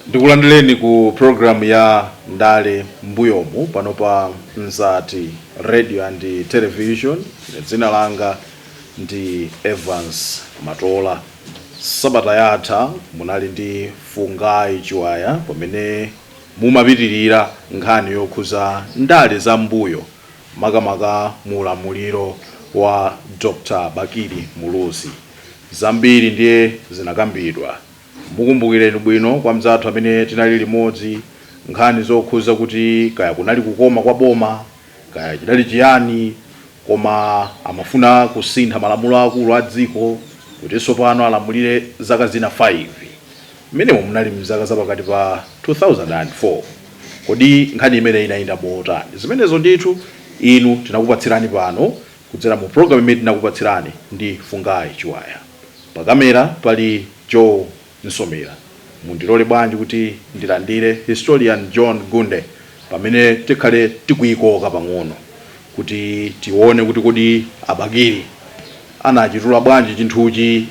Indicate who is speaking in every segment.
Speaker 1: ndikulandireni ku programu ya ndale mbuyomu pano pa mzati radio and television dzina langa ndi evans matola Sabata yatha munali ndi Fungai Chiwaya pamene mumapitilira nkhani yokhuza ndale za m'mbuyo makamaka mu ulamuliro wa Dr Bakili Muluzi. Zambiri ndiye zinakambidwa. Mukumbukireni bwino kwa mzathu amene tinali limodzi nkhani zokhuza kuti kaya kunali kukoma kwa boma, Kaya chidali chiyani koma amafuna kusintha malamulo aakulu a dziko kuti tsopano alamulire zaka zina 5. Mmenemo munali m'zaka za pakati pa 2004. Kodi nkhani imeneyi inayenda motani? Zimenezo ndithu inu tinakupatsirani pano kudzera mu pulogalamu imene tinakupatsirani ndi Fungai Chiwaya. Pakamera pali Joe. Msomera. Mundilole bwanji kuti ndilandire Historian John Gunde pamene tikhale tikuyikoka pang'ono kuti tione kuti kodi a Bakili anachitula bwanji chinthuchi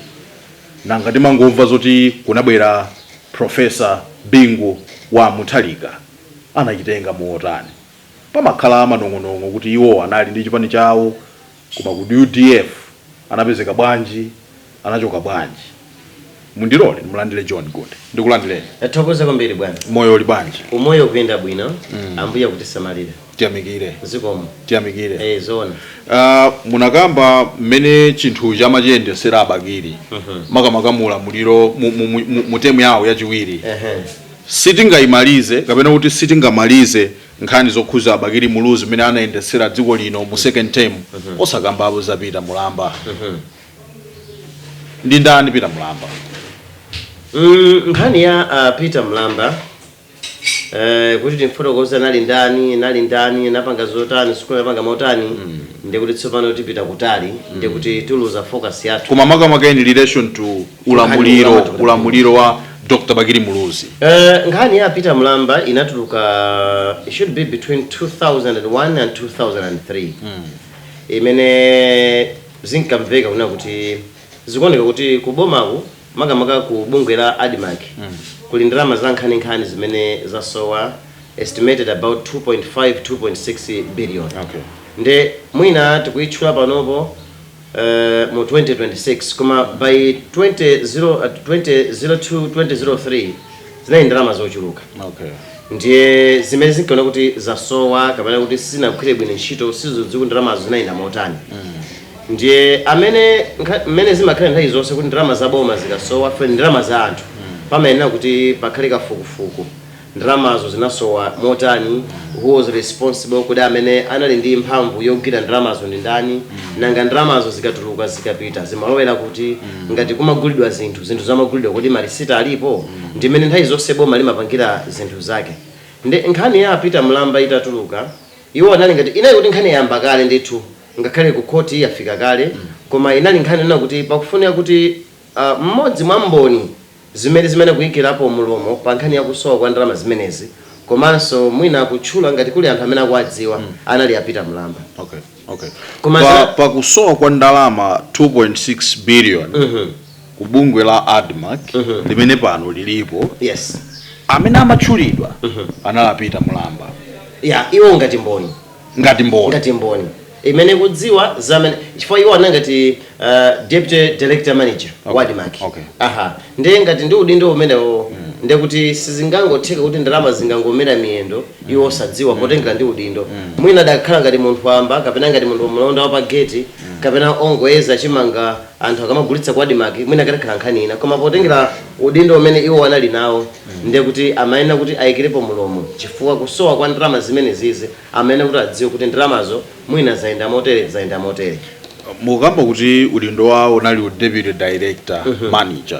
Speaker 1: nanga timangomva zoti kunabwera Prof. Bingu Wa Mutharika anachitenga motani. Pamakhala manong'onong'o kuti iwo anali ndi chipani chawo Koma ku udf anapezeka bwanji anachoka bwanji mundilole ndimulandire John Gunde ndikulandireni. Tathokoza kwambiri bwana. Moyo uli bwanji? Umoyo ukuyenda bwino ambuye akutisamalira. Tiyamikire. Zikomo. Tiyamikire. Eeh zoona. Aaa munakamba mmene chinthuchi amachiyendesera a Bakili makamaka mu ulamuliro mu mu mu mu term yawo yachiwiri Ehe. sitingaimalize kapena kuti sitingamalize nkhani zokhuza a bakili muluzi mmene anayendetsera dziko lino mu second term osakambapo za peter mulamba ndi ndani peter mulamba Mm, nkhani ya uh, peter mlamba eh, kuti timfotokoze anali ndani nali ndani anapanga zotani sikuti anapanga motani ndikuti tsopano tipita kutali ndikuti tiluza focus yathu koma makamaka in relation to ulamuliro ulamuliro wa dr bakili muluzi Uh, nkhani ya peter mlamba inatuluka it should be between 2001 and 2003 imene zinkamveka kunena kuti zikuoneka kuti kubomaku makamaka ku bungwe la admarc kuli ndalama za nkhaninkhani zimene zasowa estimated about 2.5 2.6 billion okay. nde mwina tikuyitchula panopo mu 2026 koma by 200 2002 2003 zinali ndalama zochuluka okay ndiye zimene zinkaoneka kuti zasowa kapena kuti sizinagwire bwino ntchito sizikudziwika kuti ndalamazo zinayenda motani ndiye amene nkha- mmene zimakhala nthawi zonse kuti ndalama za boma zikasowa ndi ndalama za anthu pamayenera kuti pakhale kafukufuku Ndalamazo zinasowa motani? Who was responsible? Kodi amene anali ndi mphamvu yogwira ndalamazo ndi ndani? Nanga ndalamazo zikatuluka, zikapita, zimalowera kuti? Ngati kumagulidwa zinthu, zinthuzo amagulidwa, kodi marisiti alipo? Ndi mmene nthawi zonse boma limapangira zinthu zake. Ndiye nkhani ya a Peter Mulamba itatuluka, iwo anali ngati, inali kuti nkhani yayamba kale ndithu, ngakhale ku khoti yafika kale, koma inali nkhani yonena kuti pakufunika kuti mmodzi mwa mboni, Zimene zimene kuikirapo mlomo pa nkhani ya kusowa kwa ndalama zimenezi komanso mwina kutchula ngati kuli anthu amene akuwadziwa anali a Peter Mulamba. Okay, okay. Koma Pa, za- pa kusowa kwa ndalama 2.6 billion ku bungwe la admarc limene pano lilipo Yes. amene amatchulidwa anali a Peter Mulamba. Yeah, iwo ngati mboni. ngati mboni. ngati mboni imene ikudziwa za amene chifukwa iwo anali ngati uh, deputy director manager okay. wa admarc okay. aha ndiye ngati ndi udindo umenewo mm. ndiye kuti sizingangotheka kuti ndalama zingangomera miyendo mm. iwo osadziwa mm. potengera ndi udindo mm. mwina akadakhala ngati munthu wamba kapena ngati munthu mlonda wa pageti mm. kapena ongoyeza chimanga anthu akamagulitsa ku admarc mwina ikadakhala nkhani ina koma potengera udindo umene iwo anali nawo ndiye kuti amayenera kuti ayikirepo mulomo chifukwa kusowa kwa ndalama zimenezizi amayenera kuti adziwe kuti ndalamazo mwina zayenda motere zayenda motere mukamba kuti udindo wawo unali u deputy director manager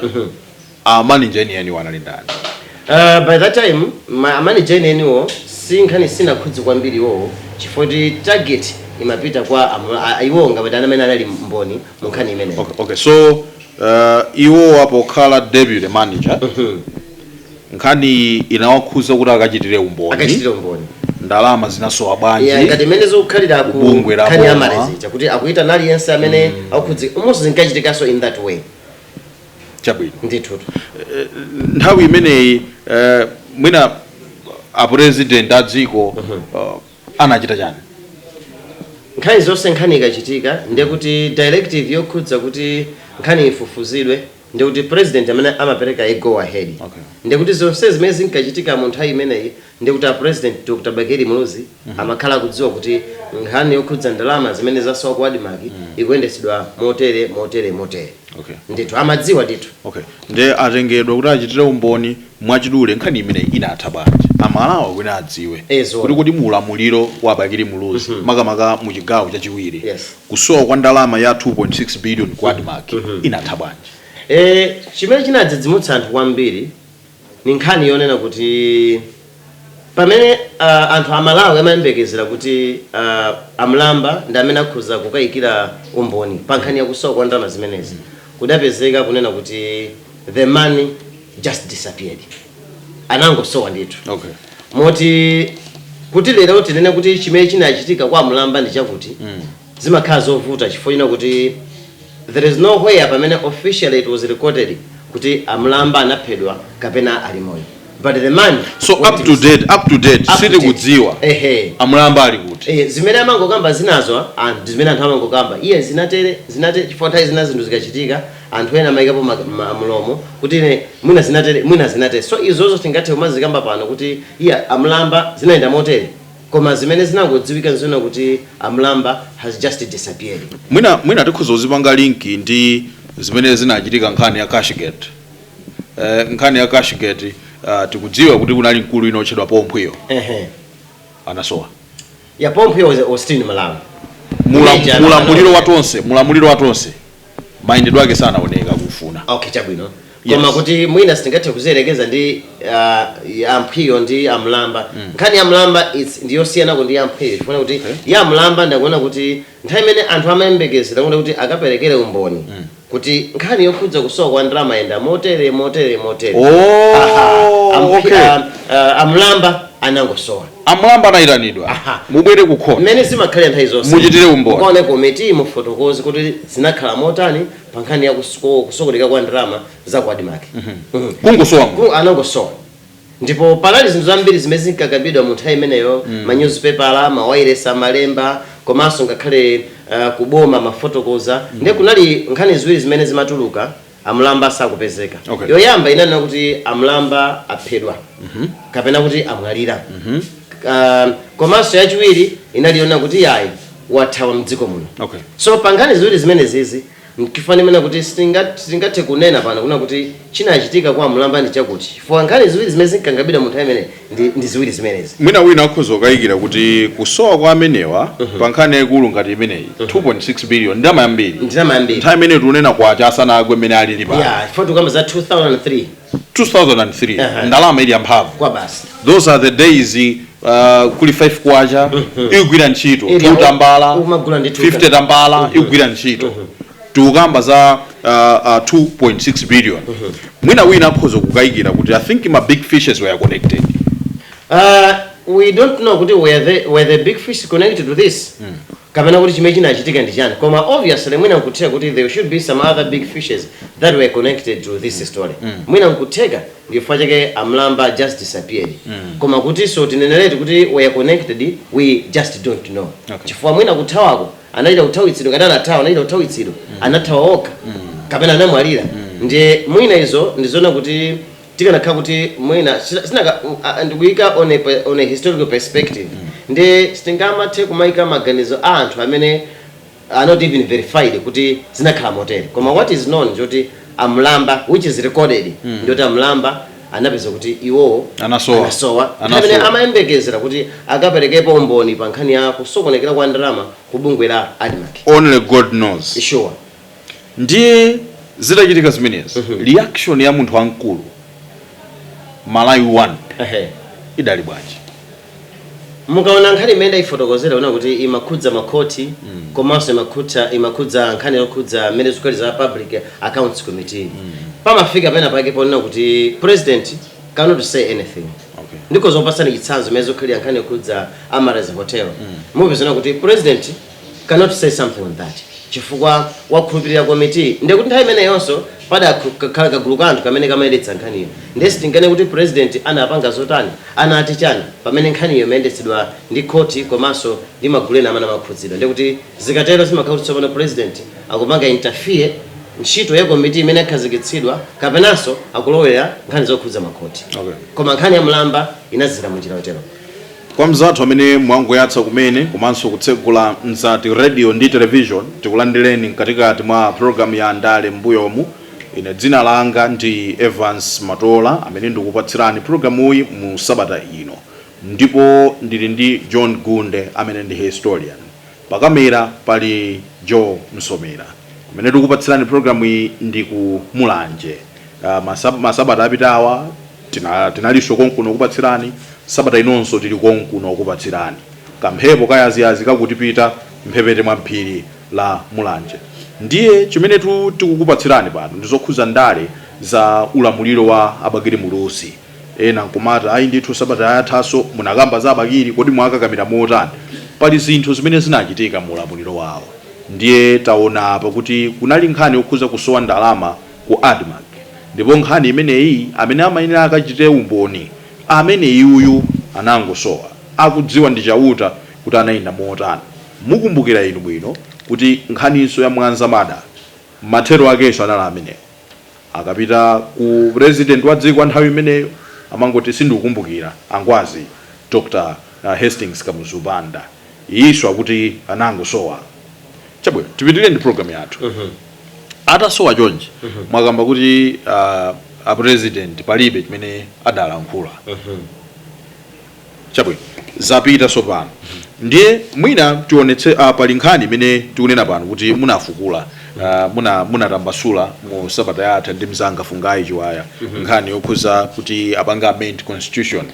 Speaker 1: a manager enieni anali ndani Uh, by that time ma- amanager enieniwo si nkhani sinakhudze kwambiri iwowo chifukwa kuti target imapita kwa amu- a- a- iwowo ngati amene anali mboni mu nkhani imeneyo okay, okay so Uh, iwowa pokhala deputy manager nkhani inawakhuza kuti akachitire umboni akachitira umboni ndalama zinasowa Yeah, bwanji ngati imene zikukhalira ku Bungwe la nkhani ya boma. malezicha kuti akuyitana aliyense amene akukhudzidwa momonso zinkachitikanso in that way chabwino ndithutu nthawi imeneyi eh, mwina apresident a dziko eh, anachita chani? Nthawi zonse nkhani ikachitika ndiye kuti directive yokhudza kuti nkhaniyi ifufuzidwe ndiye kuti president ndi amene amapereka a go ahead. Okay. Ndiye kuti zonse zimene zinkachitika mu nthawi imeneyi ndiye kuti a president Dr. Bakili Muluzi amakhala akudziwa kuti nkhani yokhudza ndalama zimene zasowa ku Admarc ikuyendetsedwa motere, motere, motere. okay ndithu amadziwa ndithu okay nde atengedwa kuti achitire umboni mwachidule nkhani imeneyi inatha bwanji amalawi kuti adziwe Eh, zoona. kuti kuti mu ulamuliro wa bakili muluzi makamaka mu chigawo chachiwiri Yes. kusowa kwa ndalama ya 2.6 billion ku Admarc inatha bwanji Eh, chimene chinadzidzimutsa anthu kwambiri Ni nkhani yonena kuti pamene anthu a Malawi amayembekezera kuti a Mlamba ndi amene akhoza kukayikira umboni pa nkhani ya kusowa kwa ndalama zimenezi, kudapezeka kunena kuti the money just disappeared. Anangosowa ndithu. Moti kuti lero tinene kuti chimene chinachitika kwa a Mlamba ndi chakuti, zimakhala zovuta chifukwa chonena kuti there is no where pamene officially it was recorded kuti a mlamba anaphedwa kapena ali moyo but the man so up to date up to date sili kudziwa ehe a mlamba ali kuti eh zimene amangokamba zinazo and zimene anthu amangokamba iye zinatere zinate chifukwa nthawi zina zinthu zikachitika anthu ena amayikapo mlomo kuti ine mwina zinatere mwina zinatere so izozo sitingathe kumazikamba pano kuti iye amlamba zinayenda motere Koma zimene zinangodziwika nzonena kuti a Mlamba has just disappeared. Mwina mwina tikhoza kuzipanga link ndi zimene zinachitika nkhani ya cashgate. Eh, nkhani ya cashgate ah, tikudziwa kuti kunali mkulu wina otchedwa Paul Mphwiyo Ehe. anasowa. Ya Paul Mphwiyo was, was still in Malawi. Mula- Manager, Mulamuliro anaona- wa tonse, mulamuliro wa tonse. mayendedwe ake sanaoneka kufuna okay chabwino Yes. koma kuti mwina sitingathe kuziyerekeza ndi uh, amphwiyo ndi amlamba nkhani ya mlamba it's- ndi yosiyanako ndi yamphwiyo chifukwa kuti ya mlamba ndikuona kuti nthawi imene anthu amayembekezera kuti kuti akaperekere umboni kuti nkhani yokhudza kusowa kwa ndalama yayenda motere motere motere Oh, Aha, amphwi- okay. ah, ah, amlamba anangosowa A Mlamba anaitanidwa. Aha. Mubwere ku court. Mmene zimakhalira nthawi zonse. Muchitire umboni. Mukaone komiti mufotokoze kuti zinakhala motani pa nkhani ya kus- ku- kusokonekera kwa ndalama za ku Admarc. Mhm. Kungosowa munthu. Ku- anangosowa ndipo panali zinthu zambiri zimene zinkakambidwa mu nthawi imeneyo ma newspaper mawailesi amalemba komanso ngakhale uh, kuboma amafotokoza ndiye kunali nkhani ziwiri zimene zimatuluka amlamba sakupezeka okay. yoyamba inkanena kuti amlamba aphedwa mm -hmm. kapena kuti amwalira mm -hmm. uh, komanso yachiwiri inali yonena kuti yayi wathawa mdziko muno okay. so pankhani ziwiri zimenezizi nchifukwa ndimanena kuti sitingathe kunena pano kunena kuti chinachitika kwa amlamba ndi chakuti chifukwa nkhani ziwiri zimene zinkakambidwa mu nthawi imeneyi ndi, ndi ziwiri zimenezi mwina wina akhoza kukayikira kuti kusowa kwa amenewa pa nkhani yaikulu ngati imeneyi 2.6 billion ndalama yambiri ndalama yambiri nthawi imene tikunena kwacha asanagwe mmene alili pano ya chifukwa tikukamba za 2003 2003 Aha. ndalama ili yamphamvu kwa basi those are the days uh, kuli 5 kwacha ikugwira ntchito Ili 2 tambala umagula ndi two 50 tambala ikugwira ntchito tikukamba za uh, uh, 2.6 billion mwina wina atha kukayikira kuti i think ma big fishes were connected Uh, we don't know kuti were the, were the big fish connected to this kapena kuti chimene chinachitika ndi chani koma obviously mwina nkutheka kuti there should be some other big fishes that were connected to this story mwina nkutheka ndifukwa chake a Mlamba just disappeared koma kuti so tineneretu kuti were connected we just don't know Okay. chifukwa mwina kuthawako anachita kuthawitsidwa ngati anathawa anachita kuthawitsidwa anathawa okha kapena anamwalira ndiye mwina izo ndizoona kuti tikanakhala kuti mwina sina- sinaka u- a- ndikuyika on a pe- on a historical perspective ndiye sitingamathe kumayika maganizo a anthu amene are not even verified kuti zinakhala motere koma what is known zoti a Mlamba which is recorded ndi zoti a Mlamba anapeza kuti iwowo Anasowa. anasowa Anasowa. nthawi imene amayembekezera kuti akaperekepo umboni pa nkhani ya kusokonekera kwa ndalama ku bungwe la admarc only god knows sure ndiye zidachitika zimenezi Mhm. reaction ya munthu wamkulu malawi 1 Ehe. idali bwanji Mukaona nkhani imene ndaifotokozera uwona kuti imakhudza makhoti komanso imakhudza imakhudza nkhani yokhudza mmene zikukhalira za public accounts committee pamafika pena pake ponena kuti president cannot say anything Okay. ndingokupatsani chitsanzo imene zikukhalira nkhani yokhudza Amaryllis hotel mupezanso kuti president cannot say something on that chifukwa wakhulupirira komitiyi ndiye kuti nthawi imeneyonso padakhala kagulu ka anthu kamene kamayendetsa nkhaniyo ndiye sitinganene kuti president anapanga zotani anati chani pamene nkhaniyo imayendetsedwa ndi khoti komanso ndi magulu ena amene amakhudzidwa ndiye kuti zikatero zimakhala kuti tsopano president akupanga interfere ntchito ya komiti imene yakhazikitsidwa kapenanso akulowera nkhani zokhudza makhoti Okay. koma nkhani ya mlamba inadzera munjira yotero Kwa mzathu amene mwangoyatsa kumene komanso kutsegula Mzati Radio ndi Television, tikulandireni mkatikati mwa program ya Ndale m'mbuyomu. Ine dzina langa ndi Evance Matola amene ndikupatsirani programuyi mu sabata ino ndipo ndili ndi John Gunde amene ndi historian. Pa kamera pali Joe Msomera. Kumene tikupatsirani program iyi ndi ku Mulanje. Ah, masab- Masabata apitawa tina- tinalinso konkuno kupatsirani. Sabata inonso tili konkuno kupatsirani. Kamphepo kayaziyazi kakutiputa mphepete mwa phiri la Mulanje. Ndiye chimene tu- tikukupatsirani pano ndi zokhuza ndale za ulamuliro wa a Bakili Muluzi. Ena nkumati ayi ndithu sabata yathanso munakamba za Bakili kodi mwakakamira motani? Pali zinthu zimene zinachitika mu ulamuliro wawo ndiye taona apa kuti kunali nkhani yokhuza kusowa ndalama ku admarc ndipo nkhani imeneyi amene amayenera akachitire umboni ameneyuyu anangosowa. Akudziwa ndi Chauta kuti anayenda motani. Mukumbukira inu bwino kuti nkhaninso ya Mwanza murder mathero akenso anali amenewo. Akapita ku president wa dziko wa nthawi imeneyo amangoti sindikukumbukira a Ngwazi Dr Hastings Kamuzu Banda. Iyinso akuti anangosowa. Chabwino tipitilire ndi program yathu. Atasowa chonchi mwakamba kuti a a president palibe chimene adalankhula. chabwino zapita tsopano ndiye mwina tionetse uh, pali nkhani imene tikunena pano kuti munafukula uh, muna munatambasula mu sabata yatha ndi mzanga fungayi chiwaya nkhani yokhuza kuti apanga amend constitution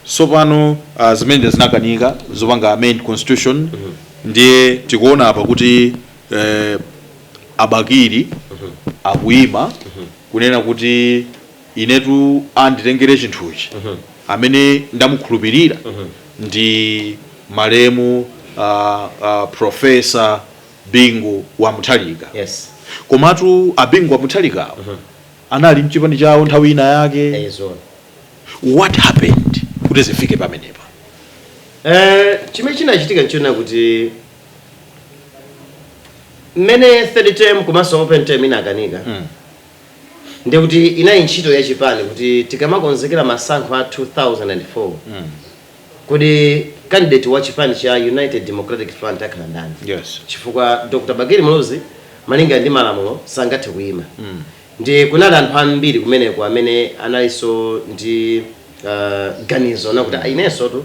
Speaker 1: tsopano uh, zimene zinakanika zopanga amend constitution ndiye tikuona apa kuti eh, a Bakili akuyima kunena kuti Inetu anditengere chinthuchi amene ndamukhulupilira ndi malemu a a professor Bingu wa Mutharika. Yes. Komatu a Bingu wa Mutharika awa anali mchipani chawo nthawi ina yake. Eyi zoona. What happened kuti zifike pamenepa? Eh, chimene chinachitika nchona kuti mmene third term komanso open term inakanika Mm. ndiye kuti inali ntchito ya chipani kuti tikamakonzekera masankho a 2004 kodi candidate wa chipani cha united democratic front akhala ndani Yes. chifukwa dr bakili muluzi malinga ndi malamulo sangathe kuyima ndi kunali anthu ambiri kumeneko amene analinso ndi uh, ganizo nakuti inensotu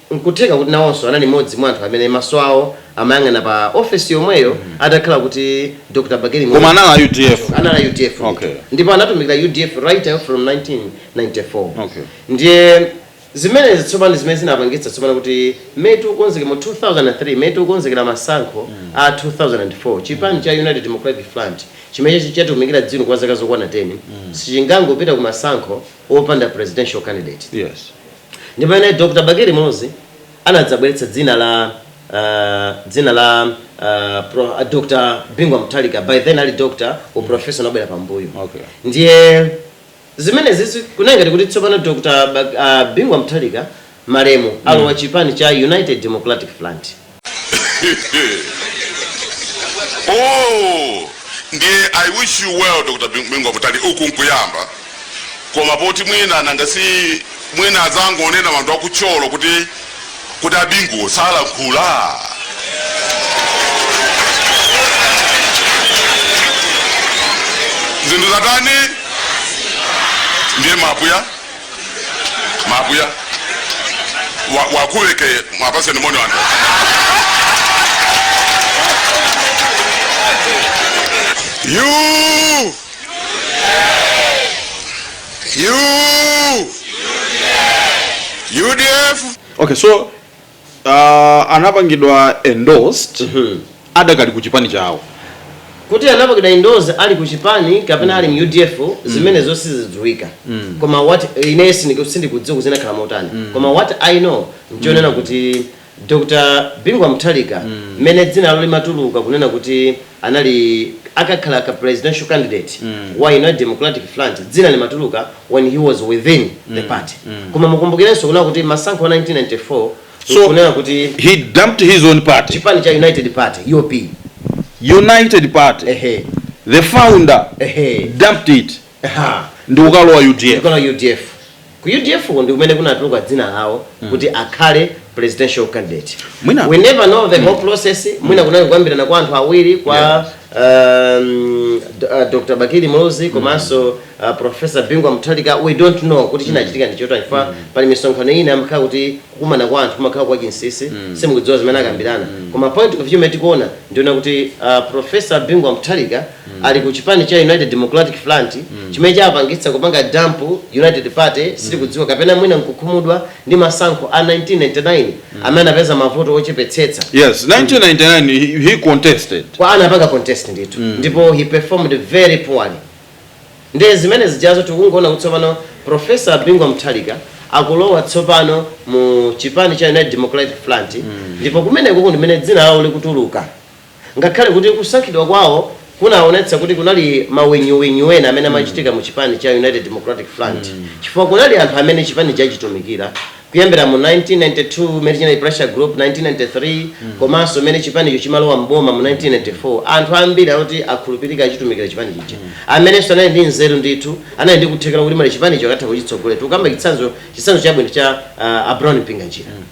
Speaker 1: N'kutheka kuti nawonso anali mmodzi mwa anthu amene maso awo amayang'ana pa ofesi yomweyo atakhala kuti Dr Bakili Koma Muluzi anali a udf. Choncho anali a udf ndithu Okay. ndipo anatumikira udf right up from 1994 Okay. ndiye zimenezi tsopano zimene zinapangitsa tsopano kuti mmene tikukonzekera mu 2003 mmene tikukonzekera masankho a 2004 chipani cha united democratic front chimene chachi- chatumikira dzino kwa zaka zokwana 10 sichingangopita ku masankho opanda presidential candidate Yes. Ndi pamene Dr. Bakili Muluzi anadzabweretsa dzina la a dzina la a pro a Dr. Bingu wa Mutharika by then ali Dr. u Professor unabwera pambuyo. Okay. Ndiye zimenezizi kunali ngati kuti tsopano Dr. Bak a Bingu wa Mutharika malemu alowa chipani cha United Democratic Front. oh ndiye i wish you well dr bingu mutharika uku nkuyamba koma poti mwina nanga si mwina azangonena anthu aku thyolo kuti kuti a bingu samalankhula zinthu zatani ndiye mapuya makuya wakuweke mwapaseni moni wanu you you udf okay so uh, anapangidwa endorsed mm -hmm. adakali ku chipani chawo kuti anapangidwa endorsed ali ku chipani kapena ali mu udf mm. zimene mm. zonse sizidziwika mm. koma what i ine sindikudziwa kuti zinakhala motani mm. koma what i know nchonena mm. kuti dr bingu wa mutharika mmene mm. dzina lawo limatuluka kunena kuti anali akakhale ka presidential candidate wa united democratic front dzina limatuluka when he was within the party koma mukumbukirenso kunena kuti masankho a 1994 So, kunena kuti he dumped his own party, chipani cha united party UP United Party. ehe The founder ehe dumped it. ndi kukalowa udf. udf ku udf-ko ndikumene kunatuluka dzina lawo mm. kuti mm. akhale presidential candidate mwina, we never know the mm. whole process mwina mm. kunali kukambirana kwa anthu awiri kwa yeah. um, uh, Dr. Bakili Muluzi komanso mm. uh, Professor Bingu wa Mutharika we don't know kuti chinachitika ndi chotani chifukwa mm. pali misonkhano ina amakhala kuti kukumana kwa anthu kumakhala kwa chinsisi mm. sitikudziwa zimene akambirana mm. koma point of view imene tikuona ndi yonena kuti uh, Professor Bingu wa Mutharika ali ku chipani cha united democratic front chimene chapangitsa kupanga dump united party sitikudziwa kapena mwina nkukhumudwa ndi masankho a 1999 amene anapeza mavoti ochepetsetsa yes 1999 he, he contested eya anapanga contest ndithu ndipo he performed very poorly nde zimene zijazo tikungoona kuti tsopano profesa bingu wa mutharika akulowa tsopano mu chipani cha united democratic front ndipo kumeneko nkumene dzina lawo likutuluka Ngakhale kuti kusankhidwa kwawo kunaonetsa kuti kunali manyinyunyinyu ena amene amachitika mu chipani cha United Democratic Front chifukwa kunali anthu amene chipanichi achitumikira kuyambira mu 1992 mene chinali pressure group, 1993 komanso mene chipanicho chimalowa m'boma mu 1994 anthu ambiri oti akhulupirika achitumikira chipani chija amenenso anali ndi nzeru ndithu anali ndi kuthekera kuti mwina chipanicho akatha kuchitsogolera tikukamba chitsanzo chitsanzo chabwino cha uh, a Brown Mpinganjira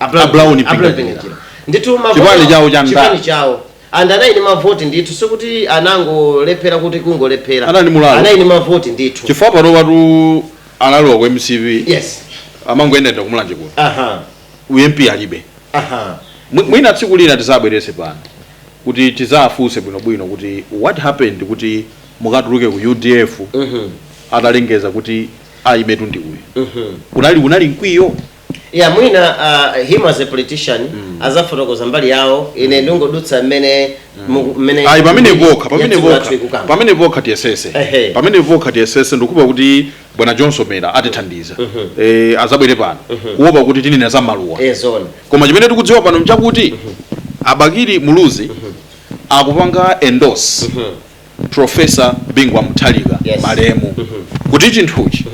Speaker 1: A Brown A Brown Mpinganjira. Pinga. Ndithu mavoti- Chipani chawo cha NDA? chipani chawo and anali ndi mavoti ndithu sikuti anangolephera kuti kungolephera Anali mulalo. anali ndi mavoti ndithu chifukwa panopatu analowa ku mcp yes amangoyendayenda kumulanje kuno aha u mp alibe aha Mwi- mwina tsiku lina tizawabwerese pano kuti tizawafunse bwinobwino kuti what happened kuti mukatuluke ku udf Mhm. atalengeza kuti ayimeyo ndi uyu Mhm. unali unali mkwiyo ya mwina uh, him as a politician azafotokoza mbali yawo ine ndingodutsa mmene mu- mmene ayi pamene vokha pamene yathu vokha yathu ikukamba. pamene vokha tiyesese Ehe. pamene vokha tiyesese ndikupa kuti bwana John Somera atithandiza eh, azabwere pano kuopa kuti tinena za maluwa Eh, zone koma chimene tikudziwa pano mchakuti abakiri muluzi akupanga endorse Prof. Bingu wa Mutharika, Yes. malemu, kuti chinthuchi,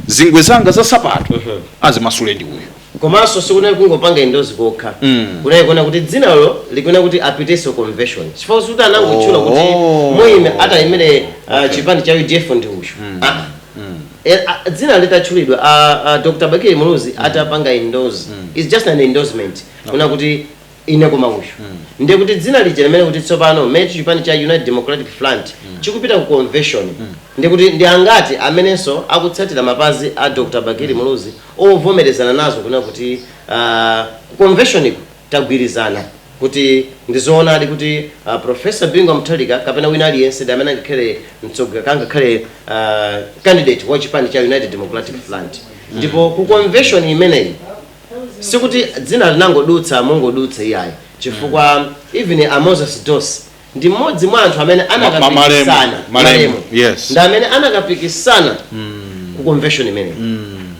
Speaker 1: zingwe zanga za sapato azimasule ndi uyu. Koma so sikunali kungopanga indozi kokha kunali kuona kuti dzinalo likuona kuti apitenso convention chifukwa kuti anangotchula kuti Oh. muyime atiyimire uh, chipani cha udf ndi uyu Ah, ah. Eh, ah, dzina litatchulidwa ah, ah, dr bakili muluzi atapanga indozi its just an endorsement kunena kuti Ine koma uyu ndiye kuti dzina lija limene kuti tsopano met chipani cha United Democratic Front chikupita ku convention ndiye kuti ndi angati amenenso akutsatira mapazi a Dr. Bakili Muluzi ovomerezana nazo kunena kuti aah ku convention ku tagwirizana kuti ndi zoonadi kuti a Prof. Bingu wa Mutharika kapena wina aliyense ndi amene angakhale mtsogo kangakhale aah candidate wa chipani cha United Democratic Front ndipo ku convention imeneyi sikuti dzina linangodutsa mongodutsa iyayi chifukwa even a moses dossi ndi mmodzi mwa anthu amene ma- malemu, anakapikisana malemu, yes. ndi amene anakapikisana ku convention imeneyi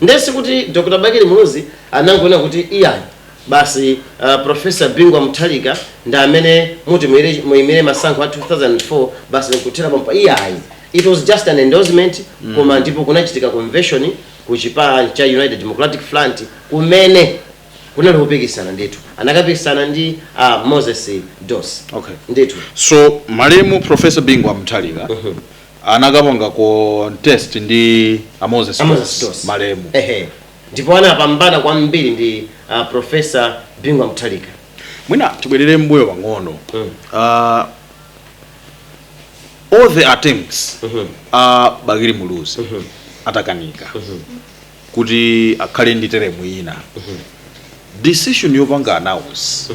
Speaker 1: nde sikuti dr bakili muluzi anangonena kuti iyayi basi uh, profesa bingu wa mutharika ndi amene muti muyire- muyimire masankho a 2004 basi nkuthera pompo iyayi it was just an endorsement koma ndipo kunachitika convention ku chipani cha United Democratic Front kumene kunali kupikisana ndithu anakapikisana ndi a ah, Moses Dossi okay. ndithu so malemu Professor Bingu Mutharika uh mhm. -huh. anakapanga contest ndi a Moses, a Moses Dossi malemu ehe ndipo anapambana kwambiri ndi uh, Professor Bingu Mutharika mwina tibwerere m'mbuyo pang'ono mm. uh, all the attempts a bakili muluzi atakanika kuti akhale ndi teremu ina decision yopanga announce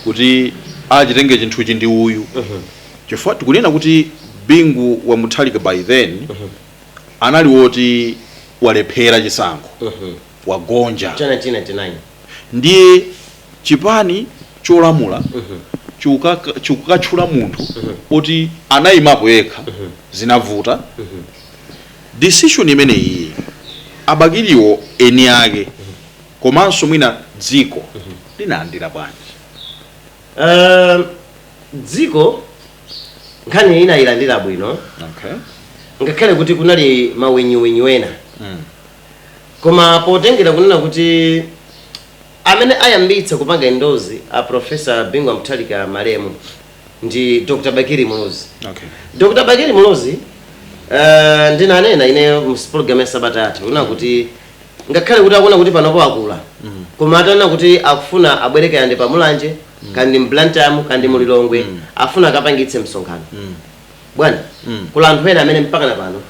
Speaker 1: kuti achitenge chinthuchi ndi uyu chifukwa tikunena kuti bingu wa mutharika by then anali woti walephera chisankho wagonja cha 1999 ndiye chipani cholamula chikukaka chikukatchula munthu oti anayimapo yekha zinavuta decision imeneyiyi a Bakiliwo eni ake komanso mwina dziko linalandira bwanji Um, dziko nkhani inayilandira bwino okay. ngakhale kuti kunali mawenyuwenyu ena koma potengera kunena kuti Amene ayambitsa kupanga indozi a Professor Bingu wa Mutharika malemu ndi Dr. Bakili Muluzi. Okay. Dr. Bakili Muluzi uh, ndinanena ineyo mu program ya sabata yatha kunena kuti ngakhale kuti akuona kuti panopo akula koma atanena kuti akufuna abwere kaya ndi pa Mulanje kaya ndi m'Blantyre kaya ndi mu Lilongwe afuna akapangitse msonkhano bwana mm. kuli anthu ena amene mpaka na pano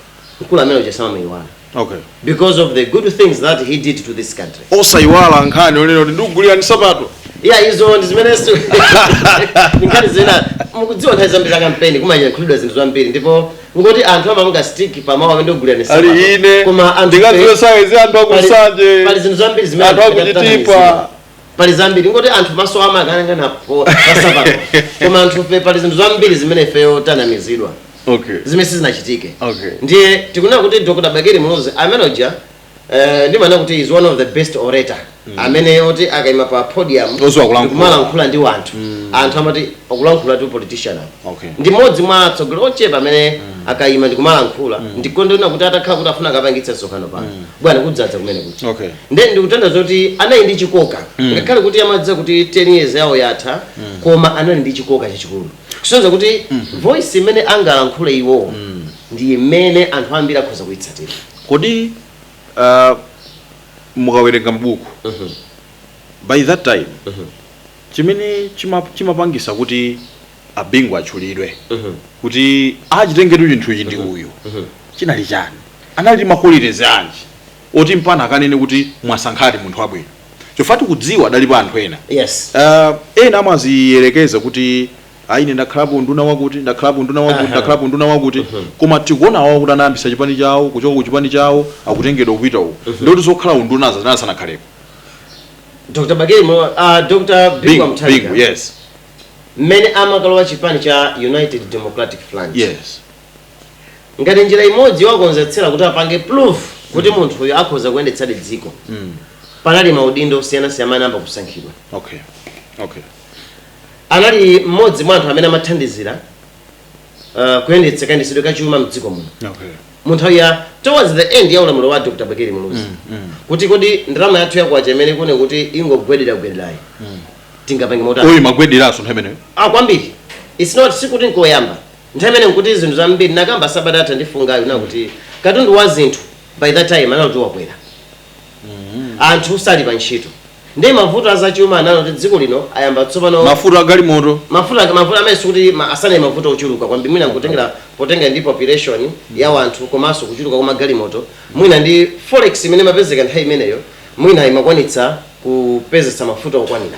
Speaker 1: mkulu amene uja samamuiwala okay. because of the good things that he did to this country osaiwala nkhani yonena kuti ndikugulirani nsapato iya izo ndi zimene si- nkhani zina mukudziwa nthawi zambiri za kampeni kumayankhulidwa zinthu zambiri ndipo ngoti anthu amamanga stick pamawu amene ndikugulirani nsapato. ali ine koma anthu ndikadziwa sayizi anthu pali- akusanje pali zinthu zambiri zimene anthu anthu akuchitipa pali zambiri ngoti anthu maso amakangana pansapato koma anthufe pali zinthu zambiri zimene ifeyo tinanamizidwa okay zimene sizinachitike Okay. ndiye tikunena kuti dr bakili muluzi amene uja eh, ndimanena kuti is one of the best orator amene oti akaima pa podium Odziwa kulankhula. ndikumalankhula ndi anthu anthu amati akulankhulatu politician apa Okay. ndi mmodzi mwa atsogoleri ochepa amene akaima ndikumalankhula ndikunena kuti atakhala kuti afuna akapangitse msonkhano pano bwana kudzadza kumene kuti okay nde ndikutanthauza kuti anali ndi chikoka ngakhale kuti amadziwa kuti 10 years yawo yatha koma anali ndi chikoka chachikulu kusonyeza kuti voice imene angalankhule iwowo ndi imene anthu ambiri akhoza kuyitsatira kodi uh, mukawerenga mabuku by that time chimene chima- chimapangisa kuti a Bingu atchulidwe kuti achitenge chinthu ichi ndi uyu chinali chani anali ndi ma qualities anji oti mpaka akanene kuti mwasankhadi munthu wabwino chifukwa tikudziwa adalipo anthu ena Yes. uh, ena amaziyerekeza kuti ayi ine ndakhalapo nduna wakuti ndakhalapo nduna wakuti Aha. ndakhalapo nduna wakuti koma tikuona awowo kuti anayambisa chipani chawo kuchoka ku chipani chawo akutengedwa kupita uko ndikuti zokhala undunazo anali asanakhalepo Dr. Bagemo, uh, Dr. Bingu bingu Mutharika, yes mmene amakalowa chipani cha United Democratic Front. yes ngati njira imodzi yowakonzetsera kuti apange proof kuti munthuyo akhoza kuyendetsadi dziko panali maudindo osiyanasiyana amene anayamba kusankhidwa okay okay anali mmodzi mwa anthu amene amathandizira uh, kuyendetsa kayendetsedwe ka chuma mdziko muno okay mu nthawi ya towards the end ya ulamuliro wa dr bakili muluzi kuti kodi ndalama yathu yakwacha imene mukuona kuti ingogwederagwederayi tingapange motani Oo imagwederanso nthawi imeneyo ah kwambiri its not sikuti nkoyamba Nthawi imene nkuti zinthu zambiri nakamba sabata yatha ndi funsoli kuti katundu wa zinthu by that time anali kuti wakwera anthu sali pa ntchito ndi mavuto a zachuma anali kuti dziko lino ayamba tsopano mafuta agalimoto mafuta mavuto amene sikuti ma- sanali mavuto ochuluka kwambiri mwina nkutengera potengera ndi population ya wanthu komanso kuchuluka kwa magalimoto mwina ndi forex imene imapezeka nthawi imeneyo mwina imakwanitsa kupezetsa mafuta okwanira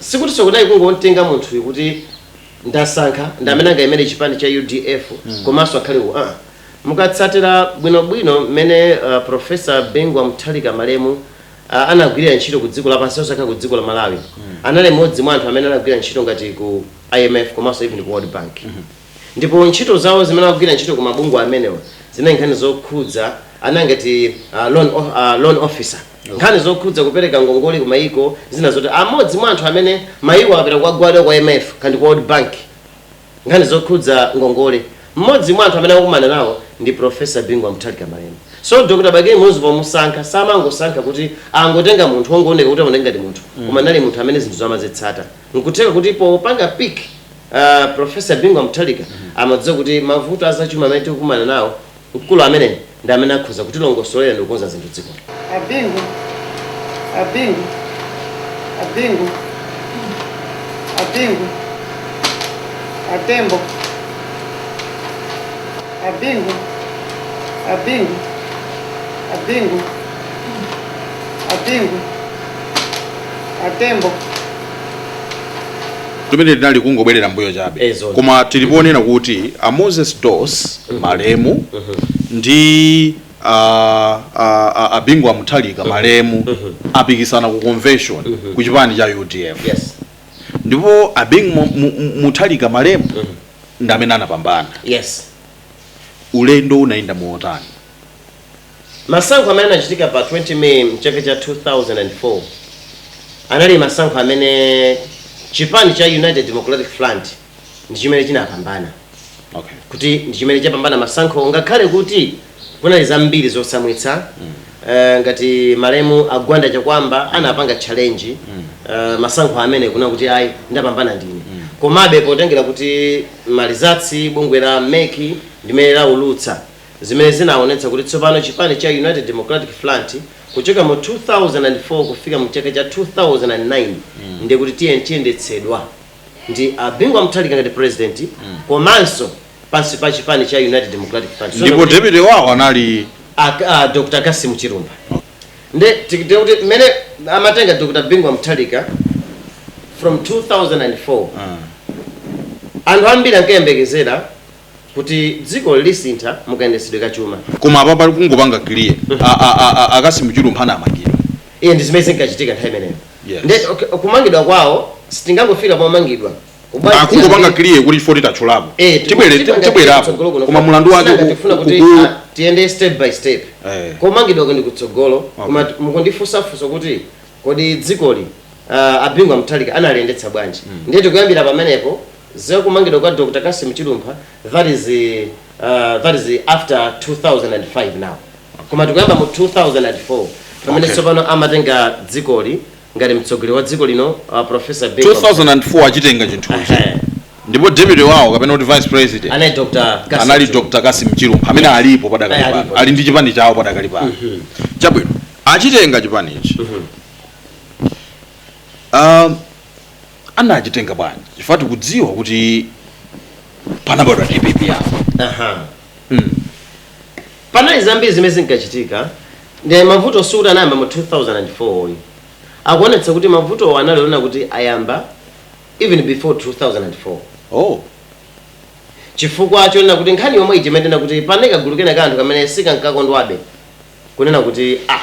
Speaker 1: Sikuti kunali kungomtenga munthuyu kuti ndasankha ndi amene angayimire chipani cha udf komanso akhale uwu aa. Mukatsatira bwinobwino mmene Professor Bingu Wa Mutharika malemu anagwirira ntchito ku dziko lapansi osakhala ku dziko la Malawi anali mmodzi mwa anthu amene anagwira ntchito ngati ku imf komanso even ku World Bank ndipo ntchito zawo zimene ankagwira ntchito ku mabungwe amenewa zinali nkhani zokhudza nanga ngati loan officer. nkhani zokhudza kupereka ngongole ku mayiko zina zoti mmodzi mwa anthu amene mayiko akapita kukagwada kwa IMF kapena kwa World Bank nkhani zokhudza ngongole mmodzi mwa anthu amene ankakumana nawo ndi Professor Bingu wa Mutharika Malemu so Dr. Bakili Muluzi pomusankha samangosankha kuti angotenga munthu wongooneka kuti aoneka ngati munthu koma anali munthu amene zinthu amazitsata nkutheka kuti popanga pick uh, Professor Bingu wa Mutharika amadziwa kuti mavuto azachuma amene tikukumana nawo Mkulu ameneyo ndi amene akhoza kutilongosolera ndikukonza zinthu mdzikoli. A Bingu, a Bingu, a Bingu, a Bingu, a Tembo, a Bingu, a Bingu, a Bingu, a Bingu, a Tembo. Kumeneku tinali kungobwerera mbuyo chabe Eh, zona. koma tili poona kuti a moses dossi malemu ndi a, a, a, a bingu wa muthalika malemu anapikisana ku convention ku chipani cha udf yes ndipo a bingu Mu- Mu- Mu- muthalika malemu ndi amene anapambana yes ulendo unayenda motani masankho amene anachitika pa 20 may mchaka cha 2004 anali masankho amene chipani cha united democratic front ndi chimene chinapambana okay kuti ndi chimene chapambana masankho ngakhale kuti kunali zambiri zotsamwitsa Eh, ngati malemu a Gwanda Chakuamba anapanga challenge eh, masankho amene kunena kuti ayi ndapambana ndine komabe potengera kuti malizatsi bungwe la MEC ndi limene laulutsa zimene zinaonetsa kuti tsopano chipani cha United Democratic Front kuchoka mu 2004 kufika mu chaka cha 2009 ndiye kuti tiye chiyendetsedwa ndi a Bingu wa Mutharika ngati president komanso pansi pa chipani cha United Democratic Party So, ndipo deputy wawo anali a, a Dr. Cassim Chilumpha nde titi kuti mmene amatenga Dr. Bingu wa Mutharika from 2004 anthu ambiri ankayembekezera kuti dzikoli lisintha mu kayendetsedwe ka chuma koma apa pali kungopanga clear A- a- a- a- a Cassim Chilumpha anamangidwa iye ndi zimene zinkachitika nthawi imeneyo Yes. nde okay, kumangidwa kwawo sitingangofika pomangidwa Kubwa- akungopanga clear kuti chifukwa titachulapo Eh, tiku- Tibwere- tiku- tibwerapo tsogolo kuno. koma mulandu wake Sinanga ku- tifuna ku- kuti ku- ah, tiyende step by step Eh. komangidwako ndi kutsogolo koma mukundifunsafunsa kuti kodi dzikoli uh, a Bingu wa Mutharika analiyendetsa bwanji mm. ndiye tikuyambira pamenepo za kumangidwa kwa Dr. Cassim Chilumpha that is uh, that is after 2005 now koma tikuyamba mu 2004 pamene Okay. tsopano amatenga dzikoli ngati mtsogoleri wa dziko lino uh, professor Bingu 2004 achitenga chinthu ichi Eh, ndipo deputy wawo kapena kuti vice president anali Dr. Cassim anali Chilumpha. Dr. Cassim Chilumpha amene alipo padakali Eh, pano alipo. ali ndi chipani chawo padakali pano chabwino achitenga chipani ichi Ah, anachitenga bwanji chifukwa tikudziwa kuti panabadwa DPP yawo Aha. mm. panali zambiri zimene zinkachitika ndi mavuto sikuti anayamba mu 2004 ayi akuonetsa kuti mavutowo anali onena kuti ayamba even before 2004 oh. chifukwa chonena kuti nkhani yomwe ichimetena kuti panali kagulu kena ka anthu kamene sikankakondwabe kunena kuti ah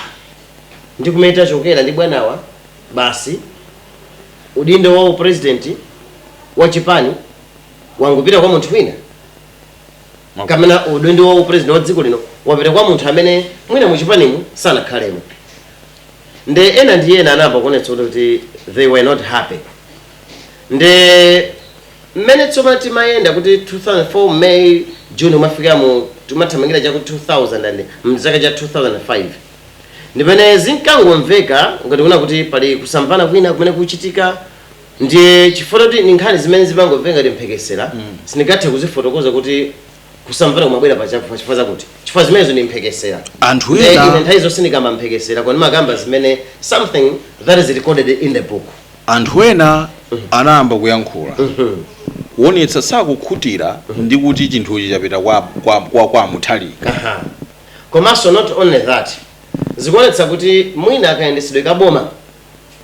Speaker 1: ndi kumene tachokera ndi bwanawa basi udindo wa upresident wa chipani wangopita kwa munthu wina kapena udindo wa upresident wa dziko lino wapita kwa munthu amene mwina mu chipanimu sanakhalemo nde ena ndi ena anayamba kuonetsa kuti they were not happy nde mmene tsopano timayenda kuti 2004 May June kumafikira mu tikumathamangira chaku 2000 and mchaka cha 2005 ndi pamene zinkangomveka ngati kunena kuti pali kusamvana kwina kumene kuchitika ndiye chifukwa kuti ni nkhani zimene zimangomveka ngati mphekesera sindingathe kuzifotokoza kuti kusamvana kumabwera pa chakuti chifukwa zakuti chifukwa zimenezo ndi mphekesera anthu Eh, ine ena nthawi zonse sindikamba mphekesera koma ndimakamba zimene something that is recorded in the book Anthu ena anayamba kuyankhula kuonetsa kusakhutira ndi kuti chinthuchi chapita kwa kwa kwa kwa Mutharika. Aha. Komanso not only that, zikuonetsa kuti mwina kayendetsedwe ka boma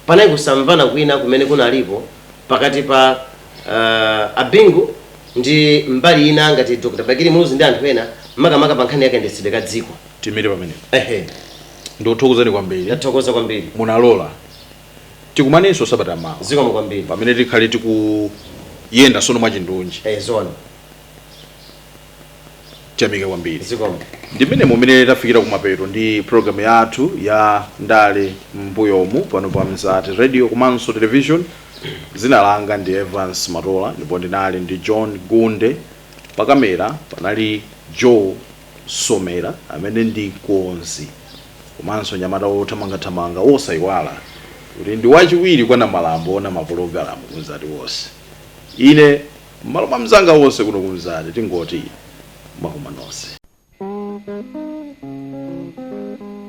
Speaker 1: panali kusamvana kwina kumene kunalipo pakati pa uh, a Bingu ndi mbali ina ngati Dr. Bakili Muluzi ndi anthu ena makamaka pa nkhani ya kayendetsedwe ka dziko. Tiimire pamenepo. Ehe. Ndikuthokozani kwambiri. Ndathokoza kwambiri. Munalola. tikumanenso sabata mawa zikomo kwambiri pamene tikhale tikuyenda sono mwachindunji eh, zona tiyamike kwambiri zikomo ndi mmenemo mmene tafikira kumapeto ndi programu yathu ya ndale mmbuyomu pano pa mzati radio komanso television dzina langa ndi evans matola ndipo ndinali ndi john gunde pakamera panali joe Somera amene ndi mkonzi komanso mnyamata wothamangathamanga wosayiwala kuti ndi wachiwiri kwa namandwa owona mapologalamu ku Mzati wonse. Ine m'malo mwa anzanga onse kuno ku Mzati tingoti mwakoma nonse.